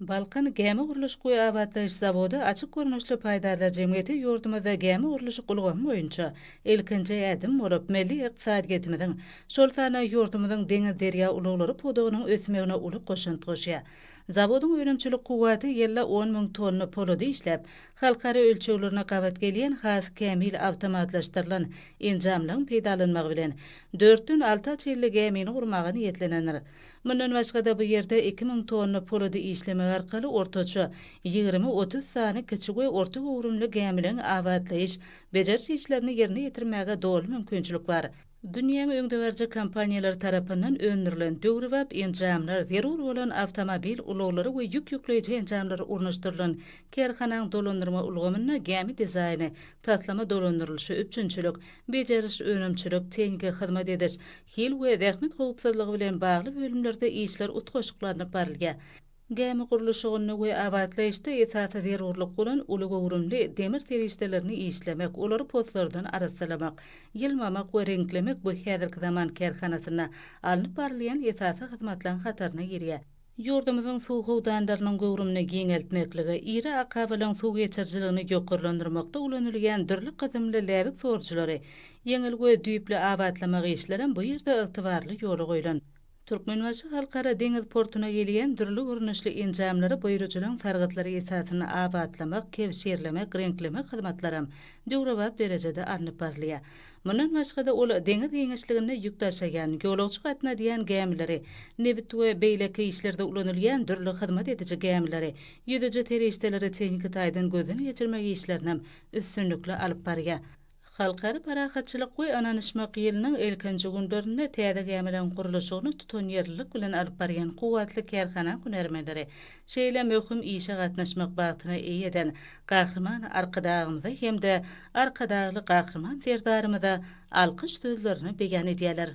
Balkan gämi gurluşyk we abatlaýyş zawody açyk görnüşli paýdarlar jemgyýeti ýurdumyzda gämi gurluşyk ulgamy boýunça ilkinji ädim bolup, milli ykdysadyýetimiziň, şol sanda ýurdumyzyň deňiz-derýa ulaglary pudagynyň ösmegine uly goşant goşýar. Zawodyň önümçilik kuwwaty ýylda on müň tonna polady işläp, halkara ölçeglerine gabat gelýän has kämil awtomatlaşdyrylan enjamlaryň peýdalanmagy bilen, dörtden alty açylly gämini gurmaga niýetlenendir. Mundan başga-da bu ýerde iki müň tonna polady işlemek arkaly ortaça ýigrimi-otuz sany kiçi we orta göwrümli gämileriň abatlaýyş, bejeriş işlerini ýerine ýetirmäge doly mümkinçilik bar. Dünýäň öňdebaryjy kompaniýalary tarapyndan öndürilen döwrebap enjamlar, zerur bolan awtomobil ulaglary we ýük ýükleýji enjamlary ornaşdyrylan kärhanaň dolandyrma ulgamynda gämi dizaýny, taslama dolandyrylyşy, üpjünçilik, bejeriş, önümçilik, tehniki hyzmat ediş, Hil we zähmet howpsuzlygy bilen bagly bölümlerde işler utgaşyklanyp barylýar. Gämi gurluşygynda we abatlaýyşda esasy zerurlyk bolan uly göwrümli demir serişdelerini işlemek, olary poslardan arassalamak, ýylmamak we reňklemek bu häzirki zaman kärhanasynda alnyp barylýan esasy hyzmatlaryň hataryna girýär. Ýurdumyzyň suw howdanlarynyň göwrümini giňeltmeklige, iri akabalaryň suw geçirijiligini ýokarlandyrmakda ulanylýan dürli gyzymly läbik sorujylary ýeňil we düýpli abatlamak işlerem bu ýerde ygtybarly ýola goýlan. Türkmenbaşy Halkara deňiz portuna gelýän dürli görnüşli enjamlary buýrujylaryň sargytlary esasynda abatlamak, kebşirlemek, reňklemek hyzmatlaram döwrebap derejede alnyp barylýar. Mundan başga-da, ol deňiz giňişliginde ýük daşaýan, ýolagçy gatnadýan gämileri, nebit we beýleki işlerde ulanylýan dürli hyzmat ediji gämileri, ýüzüji serişdeleri tehniki taýdan gözden geçirmek işlerinem üstünlikli alyp barýar. Halkara parahatçylyk we ynanyşmak ýylynyň ilkinji günlerinde täze gämileriň gurluşygyny tutanýerlilik bilen alyp barýan kuwwatly kärhana hünärmenleri Şeýle möhüm işe gatnaşmak bagtyna eýe eden Gahryman Arkadagymyza hem-de Arkadagly Gahryman Serdarymyza alkyş sözlerini beýan edýärler.